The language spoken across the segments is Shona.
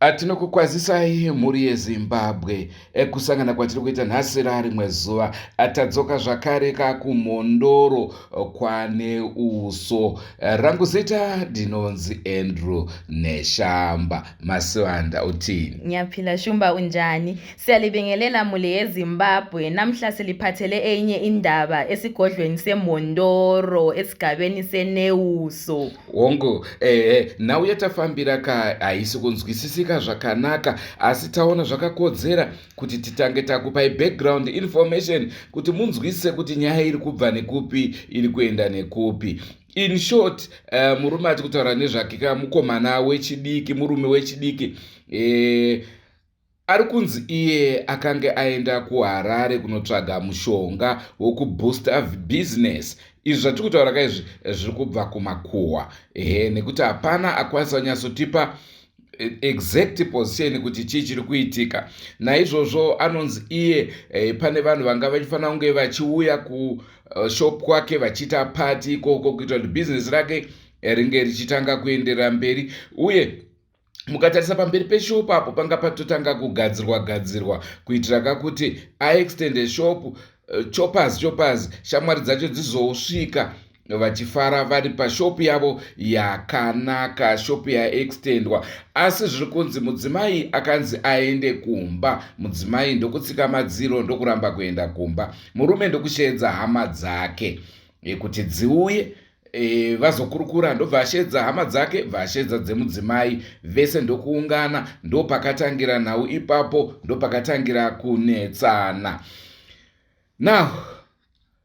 Ah, tinokukwazisai mhuri yezimbabwe eh, kusangana kwatiri kuita nhasi rarimwe zuva ah, tadzoka zvakare ka kumhondoro eh, kwane uso eh, rangu zita ndinonzi andrew neshamba masivanda utini ngiyaphila shumba unjani siyalibingelela mhuli yezimbabwe namhla siliphathele enye indaba esigodlweni semhondoro esigabeni senewuso hongu ehe nhau yatafambira ka haisi kunzwisisika zvakanaka asi taona zvakakodzera kuti titange takupai background information kuti munzwisise kuti nyaya iri kubva nekupi iri kuenda nekupi in short uh, murume ati kutaura nezvake ka mukomana wechidiki murume wechidiki eh, Ari kunzi iye akange aenda kuHarare kunotsvaga mushonga wokubooster business. Izvi zvatiri kutaura ka izvi zviri kubva kumakuhwa. Ehe nekuti hapana akwanisa kunyatsotipa eh, exact position kuti chii chiri kuitika. Naizvozvo anonzi iye eh, pane vanhu vanga vachifanira kunge vachiuya kushop eh, kwake vachiita party ikoko kuitira kuti business rake ringe richitanga kuenderera mberi uye mukatarisa pamberi peshopu apo panga patotanga kugadzirwa gadzirwa kuitira kakuti aextende shopu eh, choppers choppers shamwari dzacho dzizosvika vachifara vari pashopu yavo yakanaka shopu yaextendwa asi zviri kunzi mudzimai akanzi aende kumba mudzimai ndokutsika madziro ndokuramba kuenda kumba murume ndokusheedza hama dzake kuti dziuye E, vazokurukura ndobva ashedza hama dzake bva ashedza dzemudzimai vese ndokuungana ndopakatangira nhau ipapo ndopakatangira kunetsana now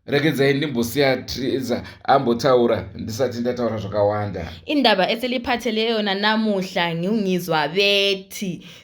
regedzai ndimbosiya triza ambotaura ndisati ndataura zvakawanda indaba eseliphatheleyo nanamuhla ngiungizwa veti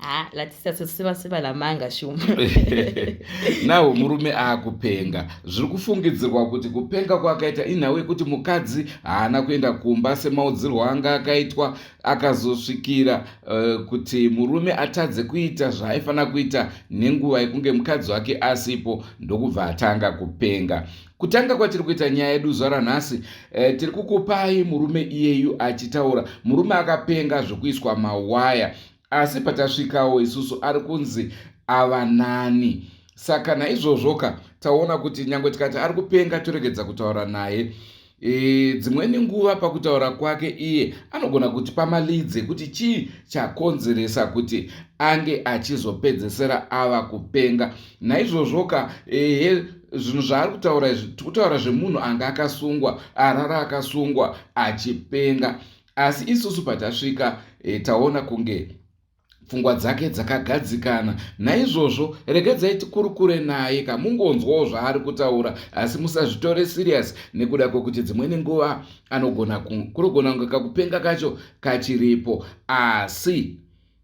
Ah, nawo murume akupenga zviri kufungidzirwa kuti kupenga kwakaita inhau yekuti mukadzi haana kuenda kumba semaudzirwo anga akaitwa akazosvikira uh, kuti murume atadze kuita zvaaifanira kuita nenguva yekunge mukadzi wake asipo ndokubva atanga kupenga kutanga kwatiri kuita nyaya yedu zuva ranhasi e, tiri kukupai murume iyeyu achitaura murume akapenga zvekuiswa mawaya asi patasvikawo isusu ari kunzi ava nani saka naizvozvoka taona kuti nyange tikati ari kupenga toregedza kutaura naye e, dzimweni nguva pakutaura kwake iye anogona kuti pamalidze kuti chii chakonzeresa kuti ange achizopedzesera ava kupenga naizvozvoka ehe zvinhu zvaari kutaura izvi tikutaura zvemunhu anga akasungwa arara akasungwa achipenga asi isusu patasvika e, taona kunge pfungwa dzake dzakagadzikana naizvozvo regedzai tikurukure naye kamungonzwawo zvaari kutaura asi musazvitore siriyasi nekuda kwekuti dzimweni nguva anogona kunogona kunge kakupenga kacho kachiripo asi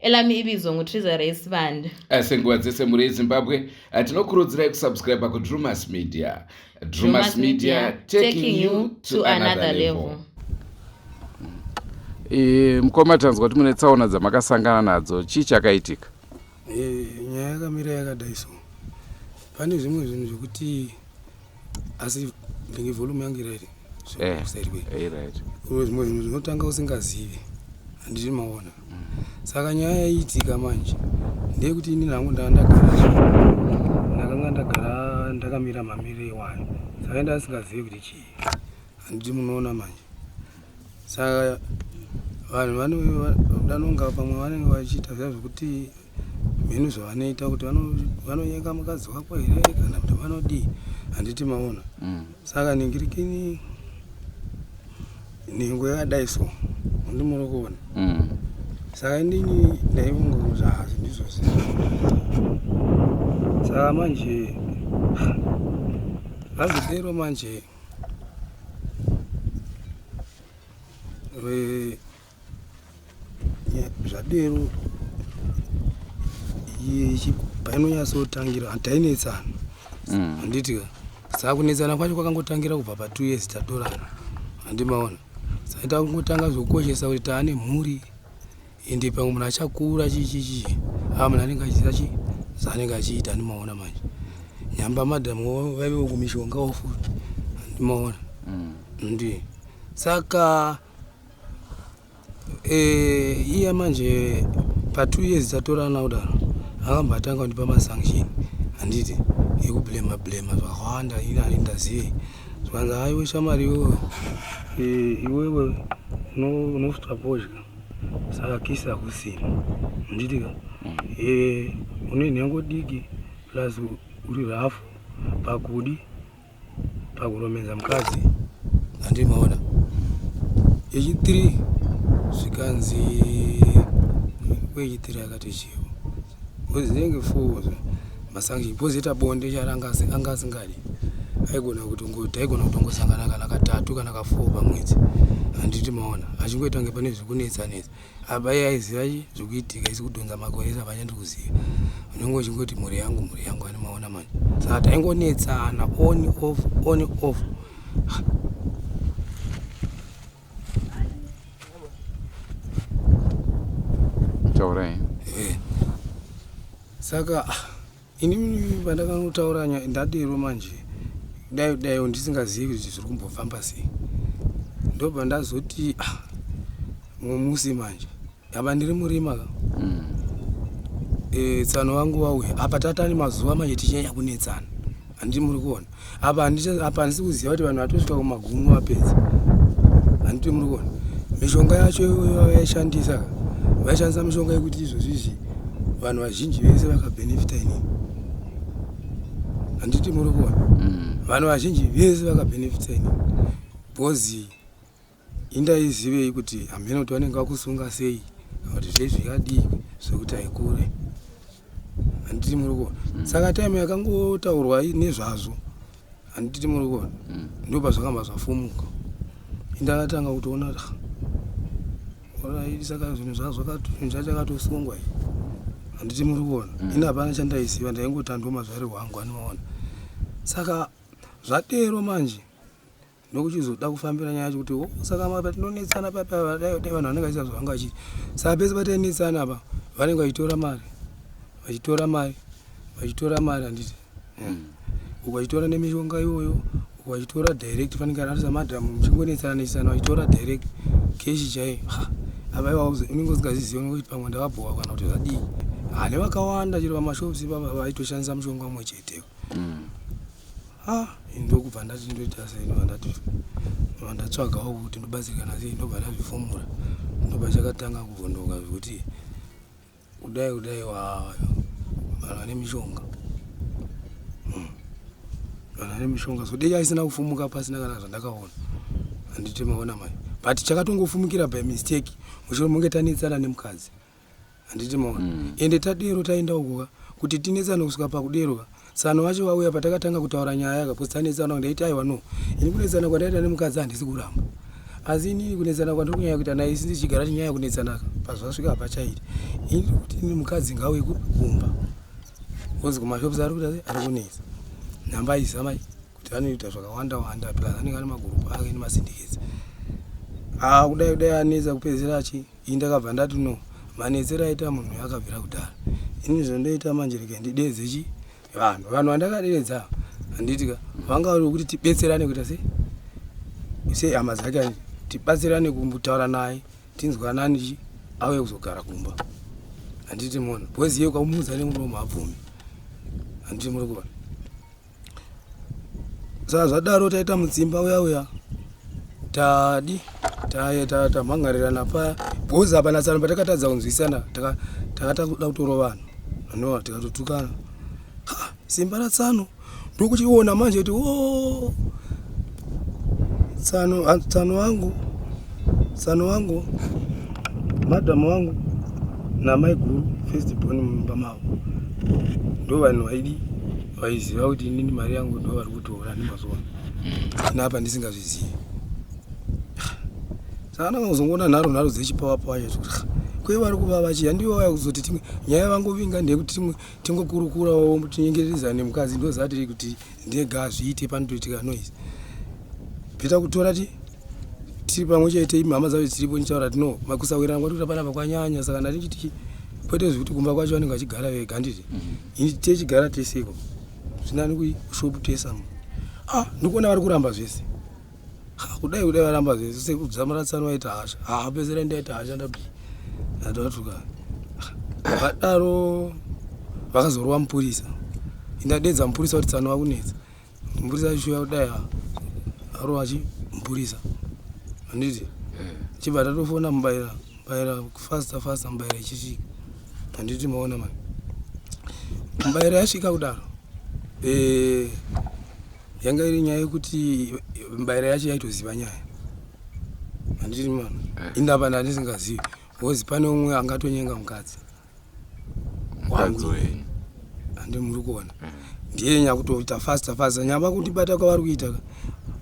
elami ibizo ngutrizza race band eh, senguva dzese mhuri yezimbabwe eh, tinokurudzirai kusubscribe kudrumas media drumas media taking you to another level eh, mukoma tanzwa kuti mune tsaona dzamakasangana nadzo chii chakaitika nyaya yakamira yakadai so pane zvimwe zvinhu zvekuti asi ndenge volume yangu iraiti eh, zvimwe zvinhu zvinotanga usingazivi handiti maona mm. saka nyaya yaiitika manje ndeyekuti ini nangu ndaa ndagara ndakanga ndagara ndakamira mamiri ewani saka ndasingazivi kuti chii handiti munoona manje saka vanhu vanonga pamwe vanenge vachiita zviya zvekuti mhenu zvavanoita kuti vanonyenga mukadzi wako here kana kuti vanodii handiti maona mm. saka ningirikini nhengo yakadai so ndi muri kuona mm. saka inini ndaivunga kuti hazi ndizvo zii saka manje hazidero manje Eh, zvadero painonyatsotangira tainetsana mm. handiti ka saa kunetsana kwacho kwakangotangira kubva pa two years tatorana handimaona saita kungotanga zvokukoshesa kuti taane mhuri ende pamwe munhu achakura chichichi aa munhu anenge achiziva chi zaanenge achiita andimaona manje nyamba madam vaive vokumishonga wofu andimaona mm. ndi saka eh, iya manje patwo years tatorana kudaro akamba atanga kundipa masanction handiti ekublema blema zvakawanda ini ani ndazive zvanza aiwe shamari iwewe eh, iwewe unosvitswa pozhya saka kisi hakusina handitika mm. eh, une nhengo diki plus uri rafu pakudi pakuromedza mukadzi handimaona yechitiri zvikanzi kweyechitiri akati chivo Uzinge fuzo masanction pozoita bonde charanga anga asingadi aigona kutongoita aigona kutongosangana kana katatu kana kafour pamwedzi handiti maona achingoita kunge pane zvekunetsa netsa apa iye aiziva zvekuitika isi kudhonza makoresa vanyandi kuziva unenge uchingoti mhuri yangu mhuri yangu ani maona manje saka taingonetsana on off on off taurai eh. saka ah, ini pandakanotaura ndadero manje dai dai ndisingazivi kuti zviri kumbofamba sei ndobva ndazoti ah, mumusi manje apa ndiri murima ka mm. e, tsano wangu wauya apa tatani mazuva manje tichinyanya kunetsana handii muri kuona apa apa handisi kuziva kuti vanhu vatosvika kumagumo vapedza handiti muri kuona mishonga yacho vaishandisa ka vaishandisa mishonga yekuti izvozvi izvi vanhu vazhinji vese vakabhenefita inini handiti muri kuona mm. vanhu vazhinji vese vakabhenefita inini bhozi indaizivei kuti hamheno kuti vanenge vakusunga sei kuti zvei zvikadii zvekuti haikure handiti muri kuona mm. saka time yakangotaurwa nezvazvo handiti muri kuona mm. ndo pazvakamba zvafumuka indakatanga kutoona kuti orai saka zvinhu zvazvo zvinhu zvacho akatosungwa i handiti muri kuona mm. ini hapana chandaiziva ndaingotandwa mazvari hwangu anoona saka zvatero manje ndokuchizoda kufambira nyaya yacho kuti oh, saka mapa tinonetsana papi ava dai vanhu vanenge vachiita zvavanga vachiti saka pese patainetsana apa vanenge vachitora mari vachitora mari vachitora mari handiti hmm. uku vachitora nemishonga iyoyo uku vachitora direct fanike ararisa madhamu muchingonetsana netsana vachitora direct keshi chaiyo apa iwa unenge usingazizivi unenge uchiti pamwe ndavabhowa kana kuti zvadii hane vakawanda chero vamashops ipapa vaitoshandisa mushonga umwe chetewo hmm. ah ndokubva ndati ndoita sei ndobva ndati ndobva ndatsvagawo kuti ndobatsirikana sei ndobva ndazvifomora ndobva chakatanga kuvhondoka zvekuti kudai kudai wayo vanhu vane mishonga hmm. vanhu vane mishonga so dei aisina kufumuka pasina kana zvandakaona handiti maona mai but chakatongofumukira by mistake mushure monge tanetsana nemukadzi handiti moa mm. ende tadero taenda ukuka kuti tinetsane kusvika pakuderoka tsano wacho vauya patakatanga kutaura nyaya yaka bcause tanetsana ndaiti aiwa no ini kunetsana kwandaita nemukadzi handisi kuramba asi inini kunetsana kwandiri kunyaya kuita naye isi ndichigara tinyaya yekunetsanaka pazvasvika hapa chairi ini kuti ini mukadzi ngauye kumba bcause kumashops ari kuita ari kunetsa nhamba aizamai kuti vanoita zvakawanda wanda plus anenge ane magurupu ake nemasindikizi a ah, kudai kudai anetsa kupedzisira achii Ini ndakabva ndati no manetsero aita munhu uyo akabvira kudhara. Ini zvondoita manje rega ndideedze chi vanhu. Vanhu vandakadeedza handiti ka vanga vari vekuti tibetserane kuita sei sei hama dzake handiti tibatsirane kumbotaura naye tinzwanani chi auye kuzogara kumba handiti mona bhozi iye ukamuudza nemuromo habvumi handiti muri kuona saka zvadaro taita mudzimba uya uya tadi tamhangarirana paya bhozi apa nasano patakatadza kunzwisana takata kuda kutoro vanhu anova tikatotukana simba ratsano ndokuchiona manje kuti o oh, tsano tsano wangu tsano wangu madam wangu namai guru first born mumba mavo ndo vanhu vaidi vaiziva kuti inini mari yangu ndo vari kutoona nemazuva napa ndisingazvizivi saka ndanga kuzongoona nharo nharo dzechipawa pawa chacho kuti kwe vari kuva vachiya ndivo vaya kuzoti timwe nyaya vangovinga ndeyekuti timwe tingokurukurawo tinyengererezane mukadzi ndozati kuti ndega azviite panotoitika noise beta kutora ti tiri pamwe chete imhama dzavo dziripo nditaura ti no makusawirana kwati kuti apana pakwanyanya saka ndati chiti kwete zvekuti kumba kwacho vanenge vachigara vega handiti mhm. ini techigara teseko zvinani kushop tesamo ah ndikuona vari kuramba zvese kudai kudai varamba zvese sekudza muratsani waita hasha haa pezera ndaita hasha ndapi ndatatuka vadaro vakazorova mupurisa indadedza mupurisa kuti tsano vakunetsa mupurisa aishuya kudai arova chi mupurisa anditi chibva tatofona mubaira mubaira fasta fasta mubaira ichisvika anditi maona mani mubaira yasvika kudaro eh, yanga iri nyaya yekuti mbaira yacho yaitoziva nyaya handiti mama eh. ini apa ndandisingazivi bcause pane umwe angatonyenga mukadzi wangu handi muri kuona eh. ndiye nyakutoita fasta fasta nyamba kundibata kwavari kuita ka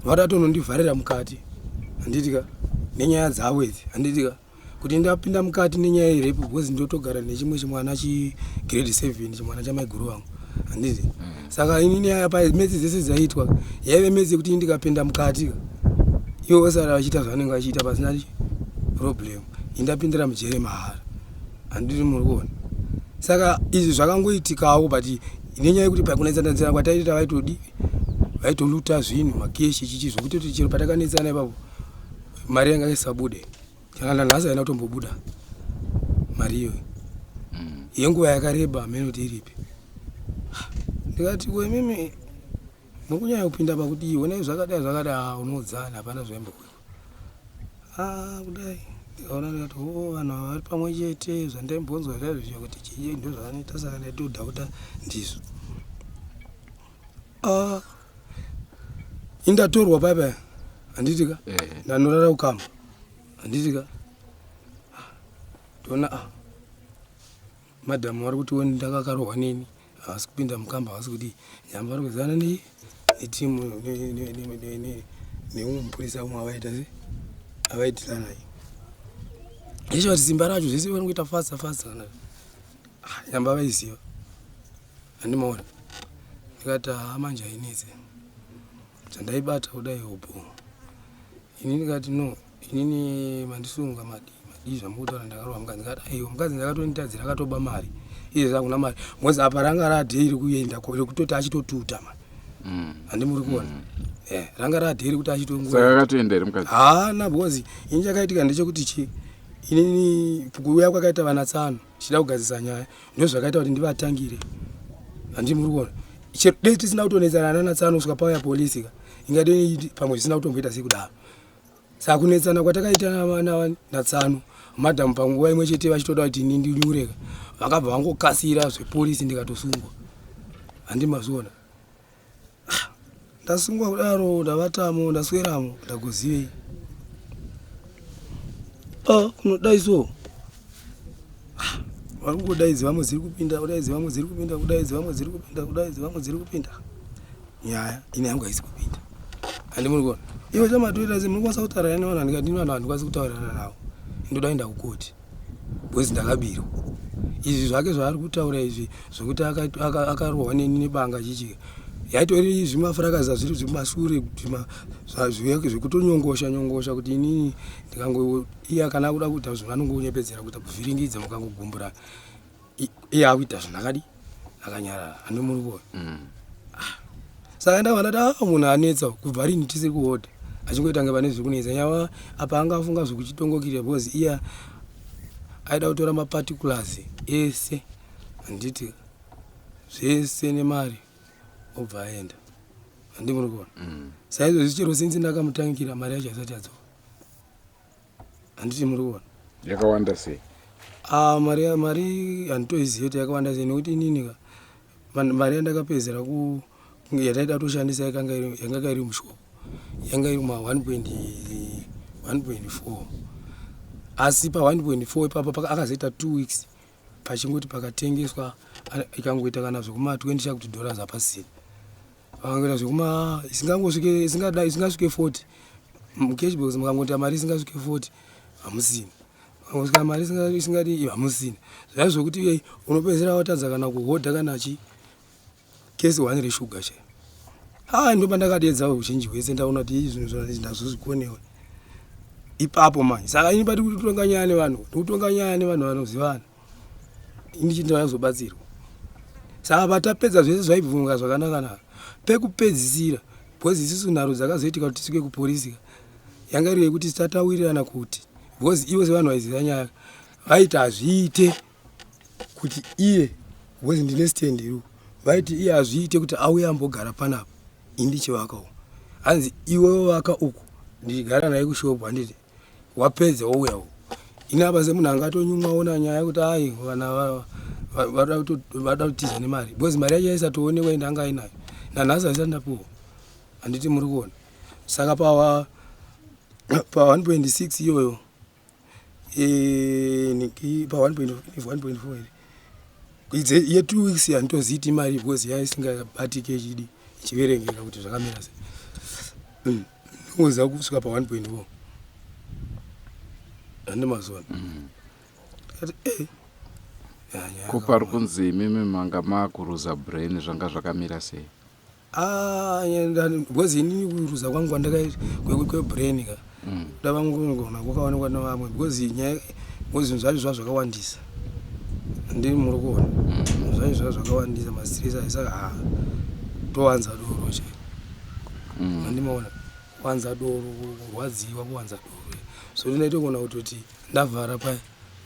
vatatonondivharira mukati handitika nenyaya dzavo idzi handitika kuti ndapinda mukati nenyaya yerepu because ndotogara nechimwe chimwana chigrade seven chimwana chamaiguru vangu handizi mm. saka ini nyaya yapa metsi dzese dzaiitwa yaive metsi yekuti ini ndikapinda mukati ivo vasara vachiita zvavanenge vachiita pasina problem indapindira mujere mahara handiri muri kuona saka izvi zvakangoitikawo but nenyaya yekuti pakunetsanetsana kwataita vaitodii vaitoluta zvinhu makeshi chichi zvokutoti chero patakanetsana ipapo mari yanga isabude kana nanhasi haina kutombobuda mari iyoyo mm. yenguva yakareba hameno kuti iripi ndikati ko imimi mukunyanya kupinda pakudii onai zvakadai zvakadai ah, unoudzana hapana zvaimbokuwa ah, kudai ndikaona ndikati o oh, vanhu ava vari pamwe chete zvandaimbonzwa zvaizvozvo kuti chii ndo zvavanoita saka ndaitodhauta ndizvo Ah, indatorwa paya paya handiti ka Eh. ndanorara kukamba handiti ka Ah, ndoona ah, madhamu vari kuti woni ndakakarohwa neni havasi kupinda mukamba havasi kuti nyamba vari kuzivana ne- netimu ne- ne- ne- ne- ne- neumwe mupurisa umwe avaita se avaitirana yeshe vati simba racho zvese vanongoita fasta fasta kana Ah, nyamba vaiziva Anymore. Ndikati haa manje hainetse. Chandaibata kudai hobho. Ini ndikati no, inini mandisunga madi. Madi zvamukutaura ndakarowa mukadzi ndikati aiwa mukadzi ndakatonitadzira akatoba mari. Iye zvakuna mari. Ngozi apa ranga radhe iri kuenda ko rekutoti achitotuta manje. Mm. Handi muri kuona. Mm. Eh, ranga radhe iri kuti achitongwa. Saka akatoenda iri mukadzi. Haa na because ini chakaitika ndechekuti chi inini kuuya kwakaita vana tsano. tichida kugadzisa nyaya ndozvakaita kuti ndivatangire handii muri kuona chero dei tisina kutonetsana nana tsanosvika pauya polisi ka ingadei pamwe zvisina kutomboita sekudaro saka kunetsana kwatakaita natsano madam panguva imwe chete vachitoda kuti ini ndinyureka vakabva vangokasira zvepolisi ndikatosungwa handii mazviona ndasungwa kudaro ndavatamo ndasweramo ndakuzivei ah, kunodai so vari kungodaidzi vamwe dziri kupinda kudaidzi vamwe dziri kupinda kudaidzi vamwe dziri kupinda kudaidzi vamwe dziri kupinda nyaya ine yangu haisi kupinda handi muri kuona ivo chamatoita se muri kwanisa kutaurira nevanhu handikadini vanhu handikwanisi kutaurirana navo ndoda kuenda kukoti bcause ndakabirwa izvi zvake zvaari kutaura izvi zvokuti akarohwa neni nebanga chichi yaitori zvimafurakaza zviri zvemasure zvake zvekutonyongosha nyongosha kuti inini ndikangoiya kana kuda kuita zvinhu vanongonyepedzera kuita kuvhiringidza mukangogumburana iye akuita zvinhu akadi akanyarara ane muriwo mm. ah. saka ndavana ta ah, munhu anetsa kubva rini tisi kuhodha achingoita nge pane zvekunetsa nyava apa anga afunga zvekuchitongokira because iye aida kutora maparticulars ese handiti zvese nemari obva aenda handi muri kuona mm. saizvozvi chero sinzi ndakamutangira mari yacho asati adzoka handiti muri kuona yakawanda sei ah, mari mari handitoizive kuti yakawanda sei nekuti inini ka mari yandakapedzera ku yataida kutoshandisa yanga iri mushoko yanga iri ma 1.4 asi pa 1.4 ipapo akazoita two weeks pachingoti pakatengeswa ikangoita kana zvekuma 20 chakuti dollars hapasina vakangoita zvekuma isingangosvike isingada isingasvike 40 mucash box mukangoita mari isingasvike 40 hamusina kana mari isingadi hamusina zvaa zvokuti iyei unopedzera watadza kana kuhodha kana chi kesi one reshuga chai haa ndoba ndakadedza uzhinji hwese ndaona kuti ii zvinhu zvona ndazozvikonewe ipapo manje saka ini pati kutitonganyaya nevanhu ndikutonganyaya nevanhu vanozivana ini chindoda kuzobatsirwa saka patapedza zvese zvaibvunga zvakanakanaka pekupedzisira bcoz isisu nharo dzakazoitika kuti tisvike kuporisika yanga iri yekuti tataurirana kuti bcoz ivo sevanhu vaiziva nyaya vaiti hazviite kuti iye bcoz ndine stand iru vaiti iye hazviite kuti auye ambogara panapa indichivakawo hanzi iwewo vaka uku ndichigara naye kushopu handiti wapedza wouya uko ini apa semunhu anga atonyumwawo nanyaya yekuti ai vana vada kutiza nemari because mari yacho yaisatoonekwa ende anga ainayo nanhasi aisati ndapuwa handiti muri kuona saka pawa pa 1.6 iyoyo e, pa 1.4 idze ye two weeks handitoziiti mari because yaisingabatike chidi ichiverengeka kuti zvakamira sei mm. ndingoziva kusvika pa 1.4 hande mazuva mm. tikati e eh, ko pari kunzi imimi manga makuruza brain zvanga zvakamira sei ah, because inini kuruza kwangu kwandakaita kwebrain ka mm. ndavangu kugona kwakaonekwa nevamwe because nyaya bcause zvinhu zvacho zvazvakawandisa ndiri muri kuona mm. zvaizva zvakawandisa mastress ayi saka ha towanza doro che mm. andimaona kuwanza doro kurwadziwa kuwanza doro so ndinaita kuona kutoti ndavhara paya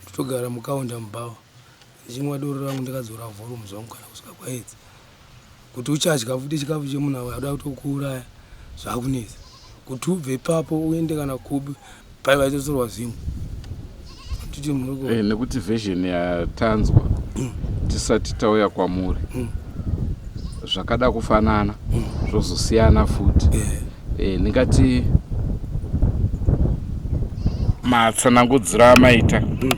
ndotogara mukaunda mubawa ndichinwa doro rangu ndikadzora volume zvangu kana kusvika kwaedzi kuti uchadya futi chikafu chemunhu awe adoda kutokuuraya zvakunetsa kuti ubve ipapo uende kana kubi pai vaitotsorwa zvimu titi muriko hey, eh, nekuti version yatanzwa mm. tisati tauya kwamuri mm. zvakada kufanana mm. zvozosiyana futi yeah. e, ndingati matsanangudzira amaita mm.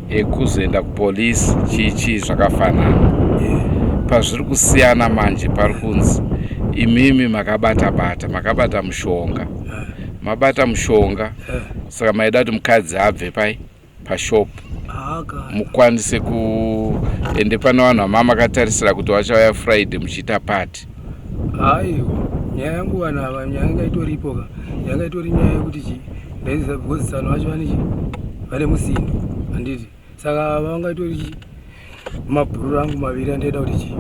ekuzoenda kupolisi chii chii zvakafanana yeah. pazviri kusiyana manje pari kunzi imimi makabata bata makabata mushonga mabata mushonga saka maida kuti mukadzi abve pai pashop mukwanise kuende pane vanhu vamama akatarisira kuti vachauya friday muchiita pati aiwa nyaya yangu vanhu ava nyaya yanga itoripo ka yanga itori nyaya yekuti chi ndaizisa because vanhu vacho vane chi vane musindo handiti saka vanga itori chi mabhururu angu maviri andaida kuti chii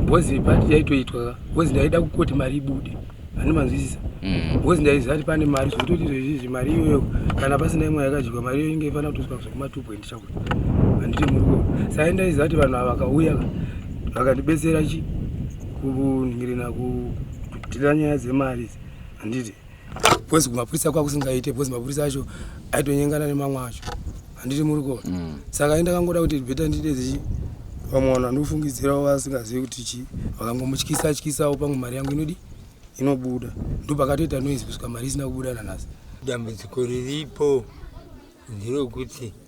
bhozi ipati yaitoitwa bhozi ndaida kukoti mari ibude ani manzwisisa mm. bhozi ndaiziva kuti pane mari zvekutoti zvezvizvi mari iyoyo kana pasina imwe yakadyiwa mari iyo inge ifanira kutoswa zvekuma two point chakuti handiti muri kuo sai ndaiziva kuti vanhu ava vakauya vakandibetsera chi kunhingirina kutira nyaya dzemari handiti because kumapurisa kwakusingaite because mapurisa acho aitonyengana nemamwe acho handiti muri kuona mm. saka ayi ndakangoda kuti beta ndiite zichi vamwe vanhu vandofungidzirawo vasingazivi kuti chii vakangomutyisa tyisawo pamwe mari yangu inodi inobuda ndopakatoita noise kusvika mari isina kubuda nanhasi dambudziko riripo nderokuti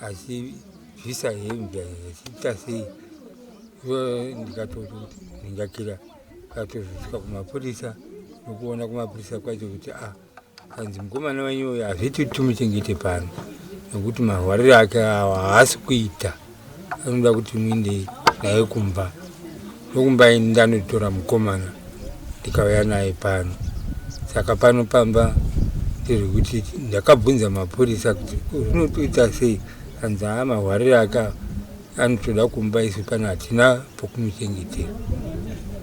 asi zvisa hembe zvichiita sei so ndikatoti ndingakira katozosvika kumapurisa nokuona kumapurisa kwacho kuti a ah, kanzi mukomana wenyu uyo hazviti kuti timuchengete pano nokuti marwariro ake awa haasi kuita anoda kuti muinde naye kumba Ndokumba ini ndanotora mukomana ndikauya naye pano saka pano pamba ndiri kuti ndakabvunza mapurisa kuti zvinotoita sei anzi haa mahwarire aka anotoda kumba isu pano hatina pokumichengetera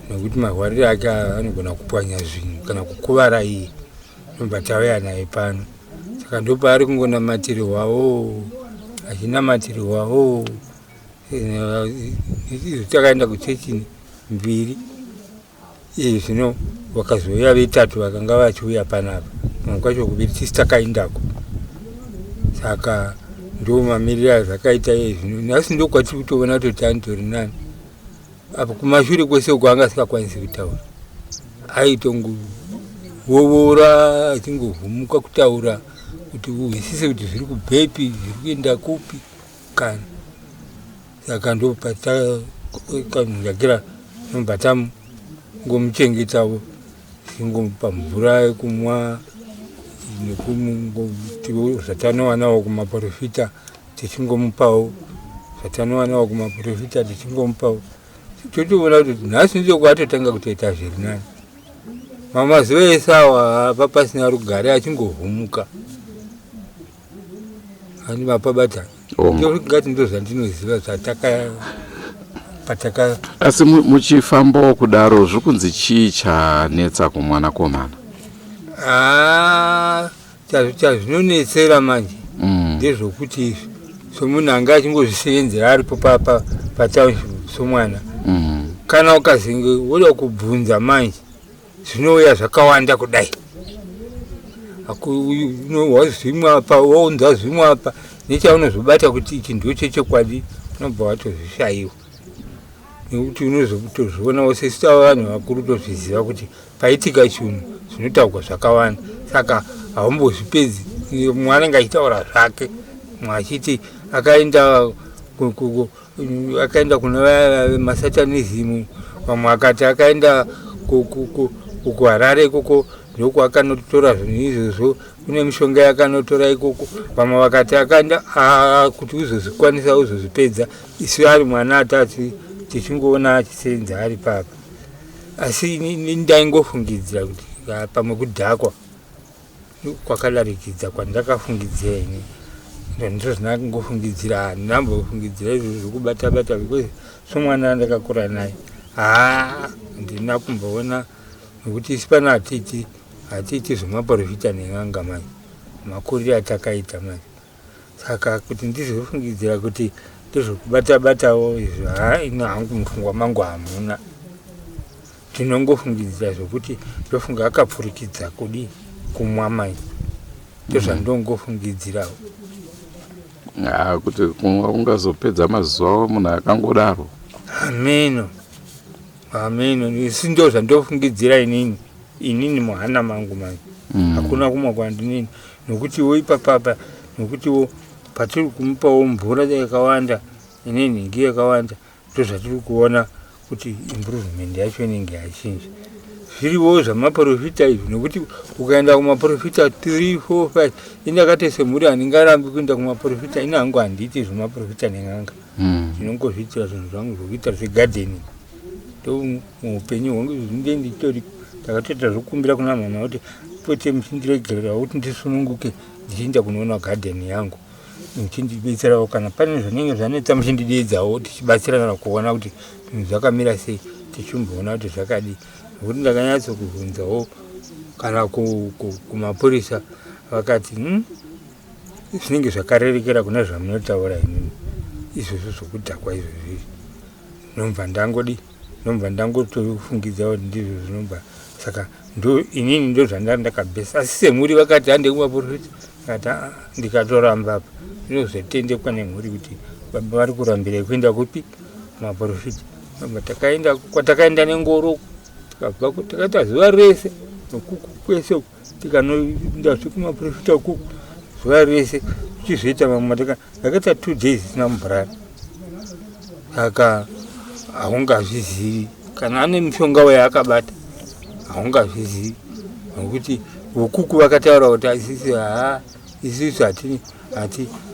nekuti mahwarire ake anogona kupwanya zvinhu kana kukuvara iye nobva tauya naye pano saka ndopaari kungonamatirirwawo achinamatirirwawo izo takaenda kuchechi mbiri iyi zvino vakazouya vetatu vakanga vachiuya panapa pamwe kwacho kuviri tisi takaindako saka ndo mamiriro azvakaita iye zvino nhasi ndokwatiri kutoona kuti tani tori nani apo kumashure kwese uko anga asikakwanisi kutaura aitongovovora achingovhumuka kutaura kuti uhwisise kuti zviri kubvepi zviri kuenda kupi Kana saka ndopatakanyagira nobatamu ngomuchengetavo tingomupa mvura yekumwa nekungotiwo zvatanowanawo kumaporofita tichingomupawo zvatanowanawo kumaporofita tichingomupawo totoona kuti nhasi ndichokuva atotanga kutoita zviri nani mamazuva ese awa apa pasina rugare achingovhumuka ani vapabata ngati ndo zvandinoziva zvataka pataka asi muchifambawo kudaro zviri kunzi chii chanetsa kumwana komana ah, chazvinonetsera manje mm. ndezvokuti izvi somunhu anga achingozvisevenzera aripo patownship somwana mm. kana ukazenge woda kubvunza manje zvinouya zvakawanda kudai unohwa zvimwe apa wounza zvimwe apa nechaunozobata kuti ichi ndocho chokwadi unobva watozvishaiwa nekuti unozotozvionawo sesu tava vanhu vakuru tozviziva kuti paitika chinhu zvinotaurwa zvakawanda saka haumbozvipedzi mwanenge achitaura zvake mwachiti akaenda akaenda kuna vaya masatanizimu vamwe akati akaenda kuharare ikoko ndoku akanotora zvinhu izvozvo kune mishonga yakanotora ikoko vamwe vakati akaenda kuti uzozvikwanisa uzozvipedza isu ari mwana atati tichingoona achisenza ari papa asi ndaingofungidzira kuti pamwe kudhakwa kwakadarikidza kwandakafungidzira ini ndizvo zvinangofungidzira ndinambofungidzira izvo zvekubata bata because somwana andakakura naye haa ndina kumboona nokuti isi pano hatiti hatiti zvemaporofita nen'anga manje makurire atakaita manje saka kuti ndizofungidzira kuti ndozvokubata batawo izvo haa ini hangu mupfungwa mangu hamuna ndinongofungidzira zvokuti ndofunga akapfurikidza kudii kumwa mai ndozvandongofungidzirawo ah, kuti kumwa kungazopedza mazuva avo munhu akangodaro hameno hameno isi ndo zvandofungidzira inini inini muhana mangu manje mm. hakuna kumwa kwandinini nokutiwo ipapa apa nokutiwo patiri kumupawo mvura yakawanda ine nhingi yakawanda ndozvatiri kuona kuti improvement yacho inenge yachinja zviriwo zvamaprofita izvi nokuti ukaenda kumaprofita 3 4 5 indakate semhuri handingarambi kuenda kumaprofita ini hangu handiiti zvemaprofita nen'anga hmm. ndinongozviitira zvinhu zvangu zvokuita zvegardening muupenyu hwangu zvinge nditori ndakatoita zvokumbira kuna mwana kuti pote muchindiregererawo kuti ndisununguke ndichienda kunoona gadheni yangu muchindibetserawo kana pane zvinenge zvanetsa muchindideedzawo tichibatsirana kuona kuti zvinhu zvakamira sei tichimboona kuti zvakadii nokuti ndakanyatso kuvhunzawo kana kumapurisa vakati hmm, zvinenge zvakarerekera kune zvamunotaura inini izvozvo zvokudhakwa izvozvi nomva ndangodii Ndobva ndangotofungidza kuti ndizvo zvinobva saka ndo inini ndo zvandari ndakabesa asi semhuri vakati hande kumaporofita akati aa ndikatoramba apa ndinozotendekwa nemhuri kuti baba vari kurambira kuenda kupi maporofita ndobva takaenda kwatakaenda nengoro tikabva takaita zuva rese nokuku kwese uku tikanoenda zvekumaprofita uku zuva rese tichizoita vamwe mataka akaita two days isina mubhurani saka haungazvizivi kana ane mushonga wayaakabata haungazvizivi nokuti vokuku vakataura kuti asisi haa isisu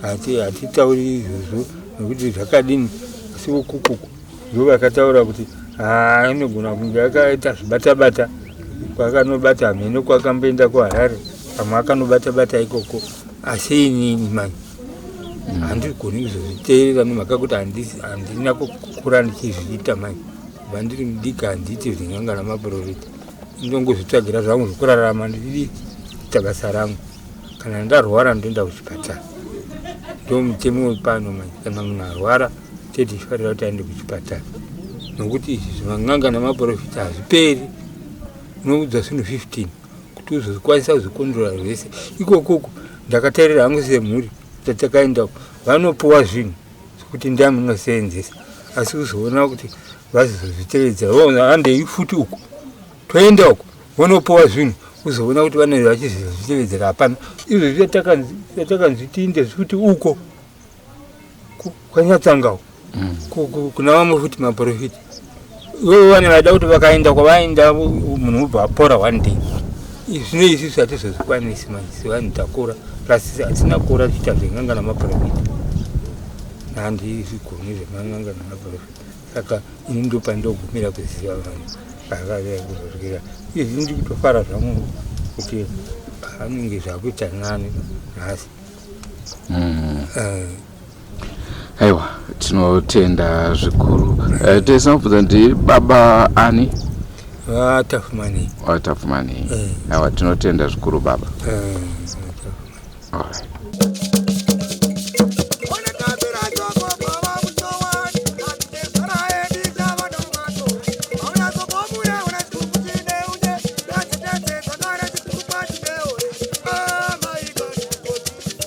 hatitauri izvozvo nokuti zvakadini asi vokukuku ndo vakataura kuti anogona ah, kunge akaita zvibatabata kwakanobata hameno kwakamboenda kuharare pamwe akanobatabata ikoko asi inini mani mm. handigoni kuzozviteerera nemhaka kuti handina kukura ndichizviita mani vandiri mudiki handiite zvingangana maprofita ndongozvitsvagira zvangu zvekurarama ndiri kuita basa rangu kana ndarwara ndoenda kuchipatara ndo mutemo wepano manje kana munhu arwara tete chifarira kuti aende kuchipatara nokuti izvi zvinanganga nemaprofita hazviperi unoudza zvinhu 15 kuti uzozvikwanisa kuzvikondora zvese ikokoko ndakatarira hangu semhuri tatakaendako vanopuwa zvinhu kuti ndiye amunoseenzesa asi kuzoona kuti vazozvitevedza andei futi uko toenda uko vonopowa zvinhu kuzoona kuti vanenge vachizvitevedzera hapana izvo zvatakanzi tiinde zvekuti uko kwanyatsangao mm. kuna vamwe futi maprofiti ivo vane vaida kuti vakaenda kwavaenda munhu ubva apora one day zvino izvi zvatizozvikwanisi maisi vanhu takura plus hatina kura tiita zvenganga namaprofita handi izvigoni zvemanganga namaprofita saka ini ndopa ndogumira kuziva vanhu vavavea kuzosvira izvi ndi kutofara zvangu kuti hanenge zvakuita nani nhasi mm. uh, aiwa tinotenda zvikuru uh, eh, tesanobvunza ndi baba ani vatafumani ah, vatafumani ah, eh. aiwa tinotenda zvikuru baba eh,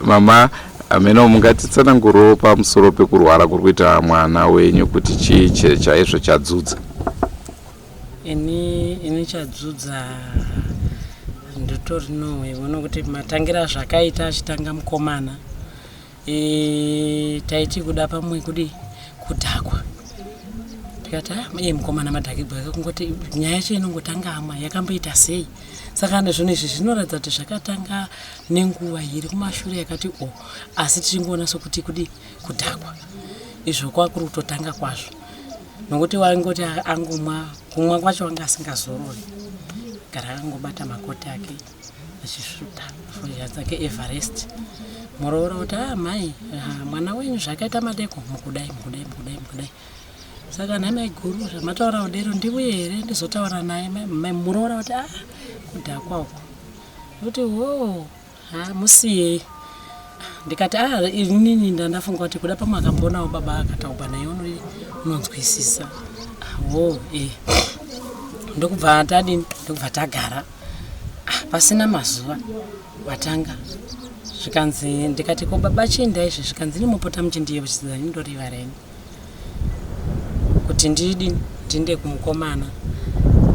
Mama hameno mungatitsanangurewo pamusoro pekurwara kuri kuita mwana wenyu kuti chii chaizvo chadzudza ini ini chadzudza ndotori no ivono kuti matangira zvakaita achitanga mukomana e, taiti kuda pamwe kudi kudhakwa tikati ah, iye mukomana madhakibwa ake kungoti nyaya yacho inongotanga ama yakamboita sei saka nezvinhu izvi zvinoratidza kuti zvakatanga nenguva iri kumashure yakati o oh, asi tichingoona sokuti kudi kudhakwa izvo kwakuri kutotanga kwazvo nokuti waingoti angomwa kumwa kwacho wanga asingazorori gara akangobata makoti ake achisvuta foya dzake everest muroora kuti a ah, mhai ah, mwana wenyu zvakaita madeko mukudai mukudai mukudai mukudai saka nhai maiguru zvamataura kudero ndivuye here ndizotaura naye muroora kuti a ah, kudhakwa uko ndokuti hoo ha musiyei ndikati a ah, inini ndandafunga kuti kuda pamwe akambonawo baba akataugwa naye unonzwisisa hoo e ndokubva tadini ndokubva tagara ah, pasina mazuva watanga zvikanzi ndikati ko baba chiendai izvi zvikanzi nimupota muchindiyevo chiziva nindoriva reni kuti ndidi ndinde kumukomana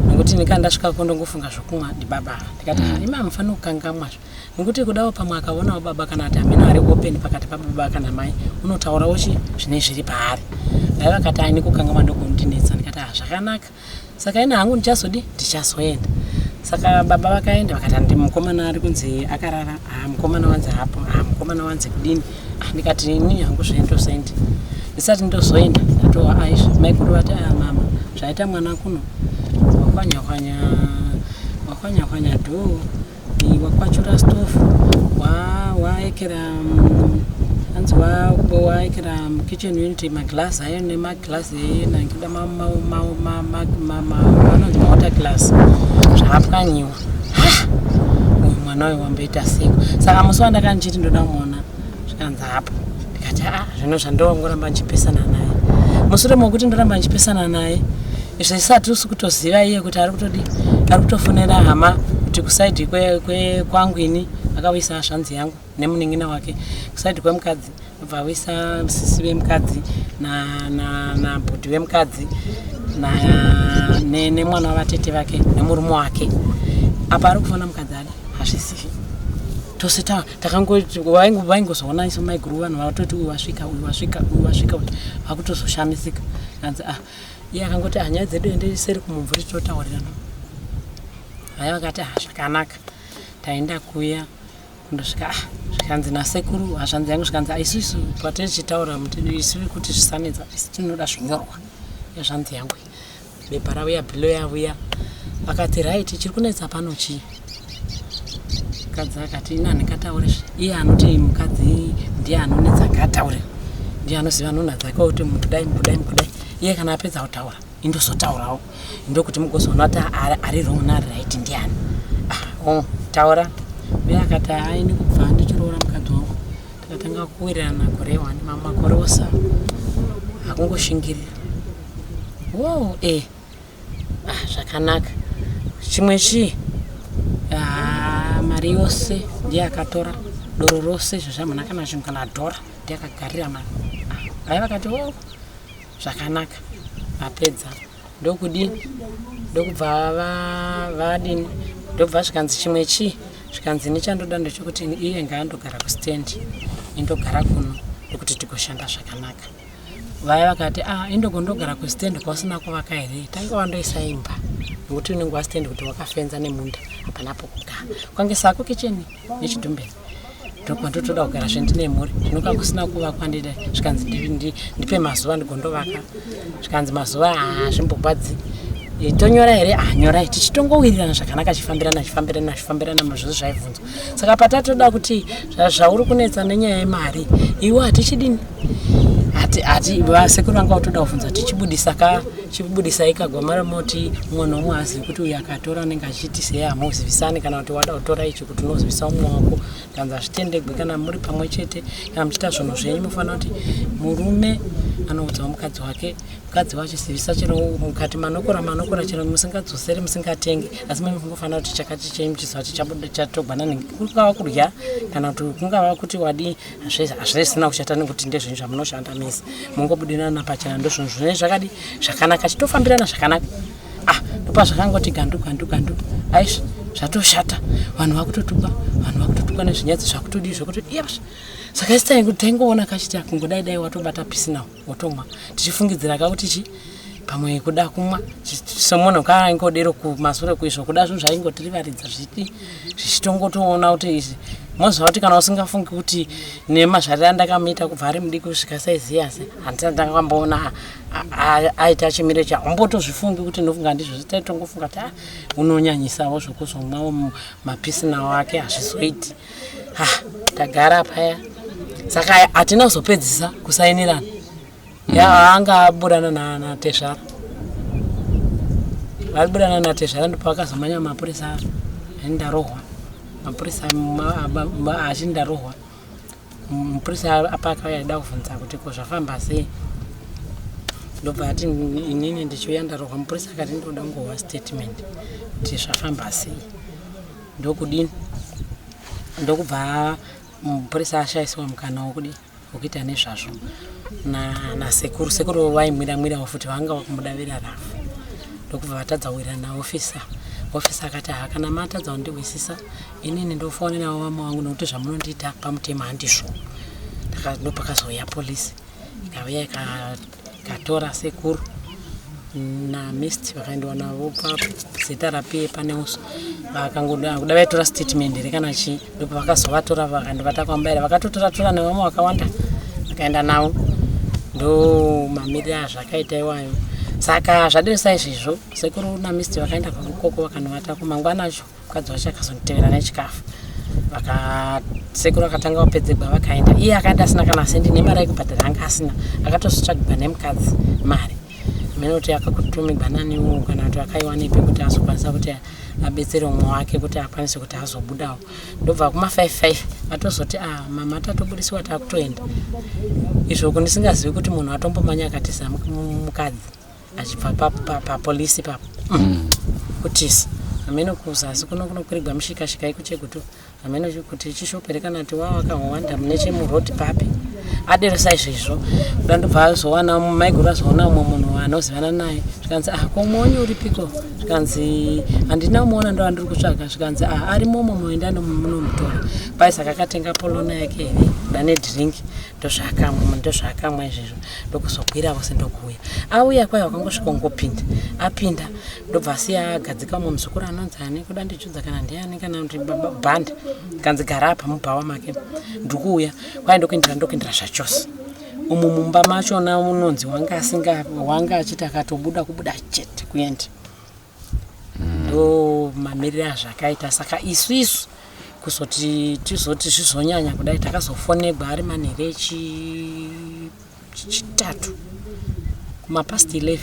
nokuti ndikanga ndasvika ko ndongofunga zvokumwa ndibaba ndikati mm. imi hamufani kukangamwa zvo nokuti kudawo pamwe akaonawo baba kana kuti hamina ari open pakati pababa kana mai unotaurawo chi zvine zviri paari dai vakati aini kukangamwa ndokunondinetsa ndikati ha zvakanaka saka ini hangu ndichazodi ndichazoenda saka baba vakaenda vakatandi mukomana ari kunzi akarara ha ah, mukomana wanzi hapo ha ah, mukomana wanzi kudini ah, ndikati ini hangu zvendozoenda ndisati ndozoenda ndatowa aizvo maikuru vati aya mama zvaita mwana kuno wakwanya kwanya wakwanya kwanya dhoo Kubiwa kwacho last of waekera hanzi waekera kitchen unit maglass ayo nemaglass enangida vanonzi mawater glass zvaapwanyiwa uyu mwana uyu wamboita seko saka musi wandakanichiti ndoda kumona zvikanzi hapo ndikati a ah, zvino zvandongoramba ndichipesana naye mushure mokuti ndoramba ndichipesana naye izvo isati usi kutoziva iye kuti ari kutodi ari kutofonera hama kuti kusaidi kwangu ini akawisa hazvanzi yangu nemuningina wake kusaidi kwemukadzi bva awisa sisi vemukadzi nabhudhi vemukadzi nemwana wavatete vake nemurume wake apa ari kufona mukadzi adi hazvisivi tose tawa takangoti vaingozoona iso maiguru vanhu vatoti uyu wasvika uyu wasvika uyu wasvika uyu vakutozoshamisika anzi ah iye akangoti ah nyaya dzedu ende seri kumumvuri totaurirana vaya vakati ah zvakanaka taenda kuya ndosvika ah, zvikanzi nasekuru hazvanzi yangu zvikanzi ah, isu isu patichitaura isu kuti zvisanetsa isu tinoda zvinyorwa yazvanzi yangu bepa rauya bilo yavuya vakati right chiri kunetsa pano chii mukadzi akati ini handingataure zve iye anoti mukadzi ndiye anonetsa ngaataure ndiye anoziva nhunha dzake kuti mukudai mukudai mukudai iye kana apedza kutaura indozotaurawo ndokuti mugozoona kuti ari wrong naari right ndiani ah, oh, taura uye akati aini kubva ndichiroora mukadzi wangu tikatanga kuwirirana gore one mamwe makore osa akungoshingirira Wow, eh. Ah, zvakanaka. Chimwe chii? Ah, mari yose ndiye akatora doro rose izvo zvamuna kana zvinhu kana dhora ndiye akagarira mari. Ah, Vaya vakati wo zvakanaka vapedza ndokudii ndokubva va- vadini ndobva zvikanzi chimwe chii zvikanzi ini chandoda ndechokuti iye ngaandogara kustand indogara kuno ndokuti tigoshanda zvakanaka vaya vakati ah indogondogara kustand kwausina kuvaka here tange wandoisa imba nokuti unenge wastand kuti wakafenza nemunda hapana pokugara kwange sako kicheni nechidumbeni ndokumandotoda kugara zvendine mhuri zvinoka kusina kuvakwa ndida zvikanzi ndipe mazuva ndigondovaka zvikanzi mazuva hazvimbogwadzi ah, tonyora here anyorai ah, tichitongowirirana zvakanaka achifambirana achifambirana achifambirana mazvose zvaibvunzwa saka patatoda kuti zvauri kunetsa nenyaya yemari iwe hatichidini hati vasekuru vanga vatoda kuvhunza kuti chibudisa ka chibudisai kagwamara moti umwe nomwe haazivi kuti uyu akatora anenge achiti sei hamuzivisani kana kuti wada kutora ichi kuti unozivisa umwe wako kanzi hazvitendegwi kana muri pamwe chete kana muchiita zvinhu zvenyu mufanira kuti murume anoudzawo mukadzi wake mukadzi wacho sivisa chero mukati manokora manokora chero musingadzoseri musingatenge asi mami kungofanira kuti chakati chaimuchiziva kuti chatogwana nenge kungava kudya kana kuti kungava kuti wadii hazvisina kushata nekuti ndezvinhu zvamunoshanda mese mungobudirana pachena ndozvinhu zvinei zvakadi zvakanaka chitofambirana zvakanaka ah ndopa zvakangoti gandu gandu gandu aizvi zvatoshata vanhu vakutotukwa vanhu vakutotukwa nezvinyadzi zvakutodii zvekuti iyazvi saka isitai kuti taingoona kachiti akungodai dai watobata pisinawo wotomwa tichifungidzira ka kuti chi pamwe kuda kumwa somunhu kaangodero kumasure kuizvo kuda zvinhu zvaingotirivaridza zvipi zvichitongotoona kuti izvi moziva kuti kana usingafungi kuti nemazvariro andakamuita kubva ari mudiki kusvika saiziyase handisati ndakamboona aita chimiro cha umbotozvifungi kuti ndofunga ndizvo zvitaitongofunga kuti ah, unonyanyisavo zvokuzomwawo mapisinawo ake hazvizoiti ha tagara paya saka hatina kuzopedzisa kusainirana mm. ya anga aburana natezvara vaiburana natezvara ndipo akazomanya mapurisa aindarohwa mapurisa achindarohwa mupurisa apa akauya aida kuvhunza kuti ko zvafamba sei ndobva ati inini ndichiuya ndarohwa mupurisa akati ndoda ngohwa statement kuti zvafamba sei ndokudini ndokubva mupurisa ashaisiwa mukana wokudii wokuita nezvazvo nasekuru sekuru vaimwira mwirawo futi vanga vakumudavira rafu ndokubva vatadza kuwira naofisa ofisa akati haa kana matadza kundihwisisa inini ndofonerawo vamwe wangu nokuti zvamunondiita pamutema handizvo ndopakazouya polisi ikauya Katora sekuru na mist vakaendiwa navo zita rapie pane uso vakangoda kuda vaitora statement here kana chii ndipo vakazovatora vakandivata kwambaira vakatotora tora nevamwe vakawanda vakaenda navo ndo mamiriro azvakaita iwayo saka zvadesaizvezvo sekuru na mist vakaenda kwakukoko vakanovata kumangwana acho mukadzi wacho akazonditevera nechikafu vakasekuru akatanga vapedzegwa vakaenda iye akaenda asina kana sendi nemari yekubhadhara anga asina akatozotsvagigwa nemukadzi mari mene kuti akakutumigwa naniwo kana kuti akaiwanepi kuti azokwanisa kuti abetsere umwe wake kuti akwanise kuti azobudawo ndobva kuma five five atozoti a ah, mama tatobudisiwa takutoenda izvo kundisingazivi kuti munhu atombomanya akatiza mukadzi achibva papolisi papo mm. kutisi hameno kuza asi kuno kunokwirigwa mushikashika iko chekuti hameno kuti chishopere kana ti wava wakahowanda mune chemurod papi aderesa izvezvo kuda ndobva azowana maiguru azoona umwe munhu anozivana naye zvikanzi ah komuoni uripiko zvikanzi handina umuona ndo andiri kutsvaga zvikanzi ah ari momo moenda nomunomutora paisaka akatenga polona yake here kuda nedrink ndozvaakamwa ndozvaakamwa izvezvo ndokuzobwira vose ndokuuya auya kwai wakangosvika ungopinda apinda ndobva asiya agadzika umwe muzukuru anonzi ane kuda ndichudza kana ndiani kana kuti bhanda kanzi gara apa mubhawa make ndikuuya kwai ndokuindira ndokuindira zvachose umu mumba machona unonzi wanga asinga wanga achiti akatobuda kubuda chete kuenda ndo mamirire azvakaita saka isu isu kuzoti tizoti zvizonyanya kudai takazofonegwa ari manhere echi- chitatu kumapast 11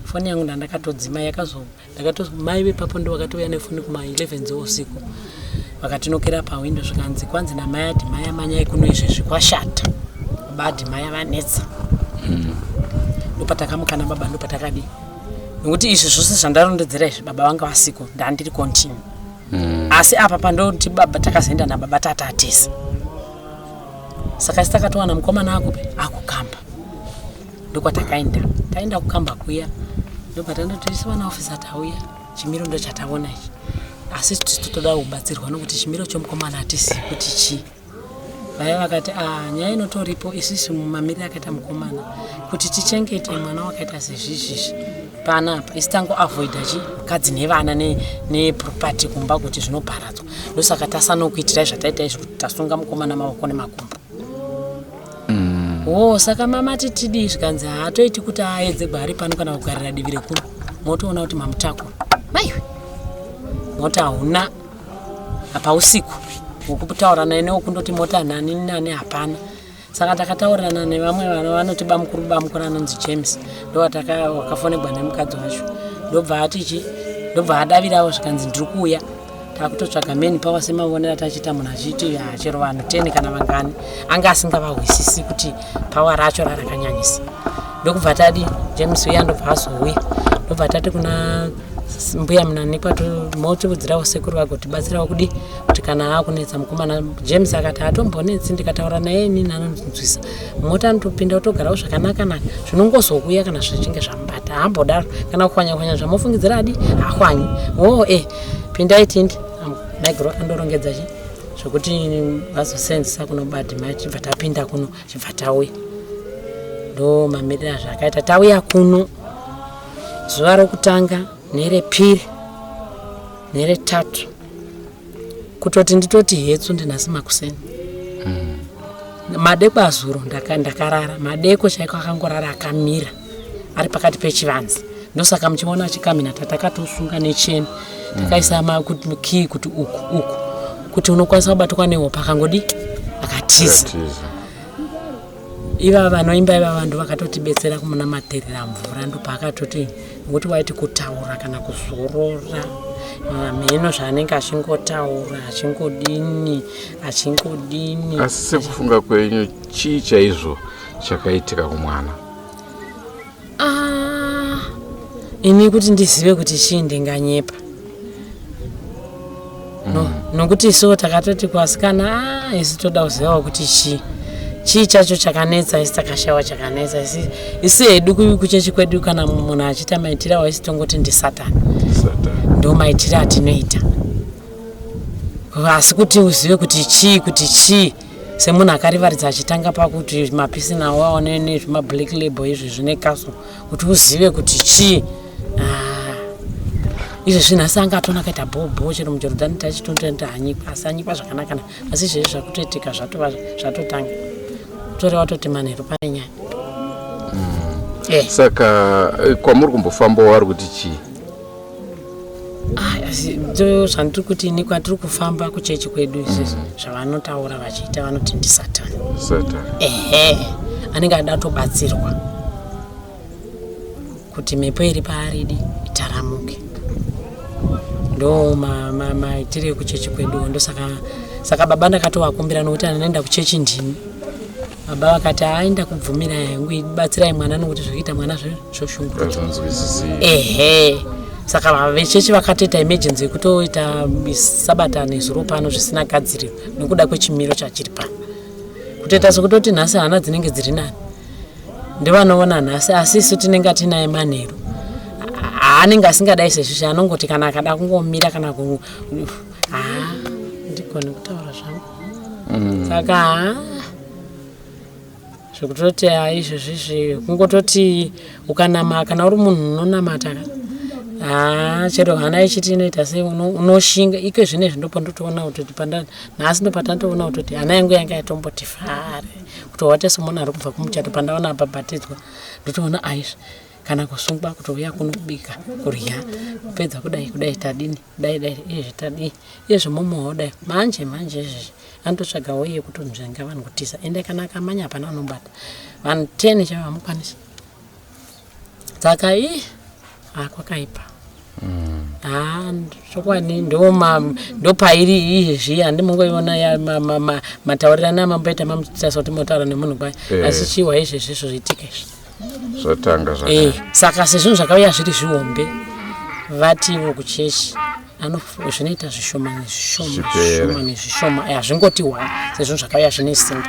foni yangu ndandakatodzima yakazo ndakato mai vepapo ndo vakatouya nefoni kuma 11 dzeusiku vakatinokera pawindo zvikanzi kwanzi namai adhimai amanyai kuno izvezvi kwashata baba adhimai vanetsa ndopatakambokana baba ndopatakadii nokuti izvi zvose zvandarondedzera izvi baba vanga vasiko ndandiri continue mm. asi apa pandoti baba takazoenda nababa tata tese saka isi takatowana mukomana akupi akukamba ndokwatakaenda taenda kukamba kuya ndopatandotoisa vana ofisa tauya chimiro ndo chataona ichi asi tisu totoda kubatsirwa nokuti chimiro chomukomana hatisi kuti chii vaya vakati ah, nyaya inotoripo isisi mumamiriro akaita mukomana kuti tichengete mwana wakaita sezvizvizvi pana apa isi tangoavoida chi mukadzi nevana neproperty ne kumba kuti zvinoparadzwa ndosaka tasanokuitirai zvataita izvi kuti tasunga mukomana mavoko nemakumbo mm. wo oh, saka mama titidii zvikanzi haatoiti kuti aedze gwari pano kana kugarira divi rekuno motoona kuti mamutakura maiwe moti hauna hapausiku hwekutaura naye newekundoti mota nani nani hapana saka takataurirana nevamwe vana vanoti bamukuru bamukuru anonzi james ndowakafonegwa nemukadzi wacho ndobva atichi ndobva adavirawo zvikanzi ndiri kuuya takutotsvaga mani pawa semavonera tachiita munhu achiiti hachero vanhu ten kana vangani anga asingavahwisisi kuti pawa racho rarakanyanyisa ndokubva tadi james uya ndobva azouya ndobva tati kuna mbuya munanekwa motiudzirawo sekuru vagotibatsirawo kudi kuti kana aakunetsa mukomana james akati hatombonetsi ndikataura naye inini anonzwisa mota anotopinda otogarawo zvakanakanaka zvinongozokuya kana zvichinge zvamubata haambodaro kana kuhwanyakwanya zvamofungidzira adi hahwanyi woo e pindai tindi maiguru andorongedza chi zvekuti vazosenzisa kuno badima chibva tapinda kuno chibva tauya ndo mamirira zvaakaita tauya kuno zuva rokutanga nerepiri neretatu kutoti nditoti hetsu ndinhasi makuseni mm. madeko azuro ndakarara madeko chaiko akangorara akamira ari pakati pechivanzi ndosaka muchiona achikamina tatakatosunga necheni takaisa makii kuti uku uku kuti unokwanisa kubatwa nehopa akangodi akatiza iva vanoimba iva vanhu vakatotibetsera kumunamatirira mvura ndopaakatoti ngokuti waiti kutaura kana kuzorora mheno zvaanenge achingotaura achingodini achingodini asi sekufunga kwenyu chii chaizvo chakaitika kumwana Ah, ini kuti ndizive kuti chii ndinganyepa no mm. nokuti isu takatoti kuvasikana ah, isu toda kuzivawo kuti chii chii chacho chakanetsa isi takashawa chakanetsa isu hedu kuchechi kwedu kana munhu achiita maitiro awo isi tongoti ndisatani ndo maitiro atinoita asi kuti uzive kuti chii kuti chii semunhu akarivaridza achitanga pakuti mapisi nawo aone nezvemablack label izvi zvine kaso kuti uzive kuti chii ah. izvi zvinhu asi anga atona akaita bhobho chero mujorodhani tachitotoenda hanyikwa asi anyikwa zvakanakana asi izvezvi zvakutoitika zvatova zvatotanga tore watoti manheru pane nyaya mm. eh. saka eh, kwamuri kumbofambawo ari kuti chii Ah, zvandiri kuti ini kwatiri kufamba kuchechi kwedu izvizvi mm. zvavanotaura vachiita vanoti ndisatan ehe anenge ada tobatsirwa kuti mhepo iri paaridi itaramuke ndo maitiro ekuchechi kwedu ndosaka saka baba ndakatovakumbira nokuti anoenda kuchechi ndini baba vakati aenda kubvumira yangu ibatsirai mwana nokuti zvekuita mwana zve ehe saka vava vechechi vakatoita emergency yekutoita sabata nezuro pano zvisina gadziriro nekuda kwechimiro chachiri pano kutoita sekutoti nhasi hana dzinenge dziri nani ndivanoona nhasi asi isu tinenge atinaye manheru haanenge asingadai sezvizvi anongoti kana akada kungomira kana ku haa ndigone kutaura zvangu mm. saka haa zvekutoti izvozvizvi kungototi ukanama kana uri munhu unonamata ka haa ah, chero hana ichiti inoita sei unoshinga iko zvine zvindopo ndotoona kutoti panda nhasi ndopatatoona kutoti hana yangu yanga yatomboti fare kutowate somunhu ari kubva kumuchato pandaona abhabhatidzwa ndotoona aizvi kana kusungwa kutouya kuno kubika kurya kupedza kudai kudai tadini dai dai izvi tadii izvi mumwewo dai manje manje izvizvi anototsvaga woye yekuti nzvenga vanhu kutiza ende kana akamanya hapana anombata vanhu ten chavo hamukwanisi saka i hakwakaipa mm. ha chokwadi ndopairi iyi zviya handimongoiona mataurirano amamboita mamutisa soti motaura nemunhu kwayo eh. asi chiwa izvezvi izvo zviitike izvi zvatanga zvaka Eh, saka sezvinhu zvakauya zviri zvihombe vativo kuchechi anof- zvinoita zvishoma nezvishoma Zvichipera. zvishoma nezvishoma Eh, hazvingoti wa sezvinhu zvakauya zvine simba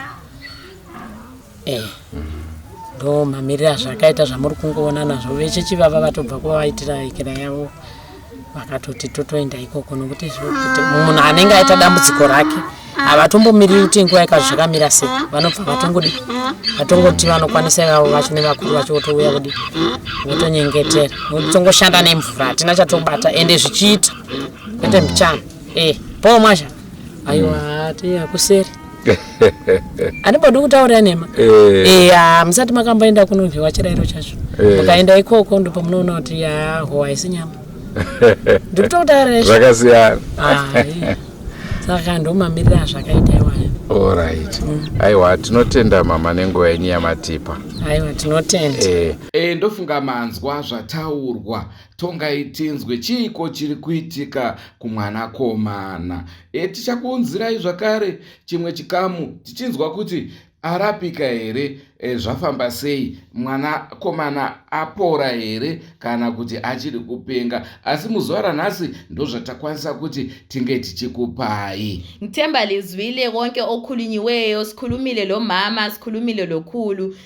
Eh, ndo mamiriro azvakaita zvamuri kungoona nazvo vechechi vava vatobva kuva vaitira ikira yavo vakatoti totoenda ikoko nokuti kuti munhu anenge aita dambudziko rake havatombomiriri kuti nguva yekazi zvakamira sei vanobva vatongodi vatongoti vanokwanisa ivavo vacho nevakuru vacho votouya kudi votonyengetera tongoshanda nemvura hatina chatobata ende zvichiita kwete mbichana e eh, poo mwazhaa aiwa mm. tei akuseri anibodi kutaurira nhema eh. eh, ya musati makamboenda kunonhiwa chirairo chacho eh. mukaenda ikoko ndipo munoona kuti ya howa isi nyama ndiri kutokutaurira zvakasiyana saka ndomamirira azvakaita iwaya orit mm. aiwa tinotenda mama nenguva yenyu yamatipa aiwa tinotenda ndofunga manzwa zvataurwa tongai tinzwe chiiko chiri kuitika kumwanakomana e tichakuunzirai zvakare chimwe chikamu tichinzwa kuti arapika here e, zvafamba sei mwanakomana apora here kana kuti achiri kupenga asi muzuva ranhasi ndozvatakwanisa kuti tinge tichikupai nthemba lizwile konke okhulunyiweyo sikhulumile lo mama sikhulumile lokhulu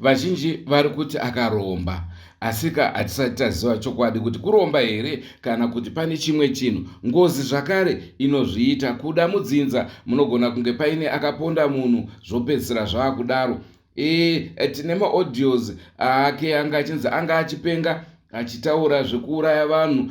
Vazhinji vari kuti akaromba, asika hatisati taziva chokwadi kuti kuromba here kana kuti pane chimwe chinhu. Ngozi zvakare inozviita kuda mudzinza, munogona kunge paine akaponda munhu zvopedzisira zvava kudaro. E, tine maaudios aake anga achinzi anga achipenga achitaura zvekuuraya vanhu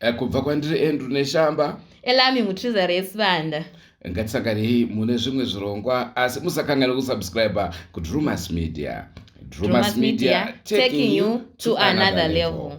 Eh, kubva kwandiri andrew neshamba elami mutriza resibanda ngatisanganei mune zvimwe zvirongwa asi musakanganwe kusubscribe kudrumas media drumas media taking you to another level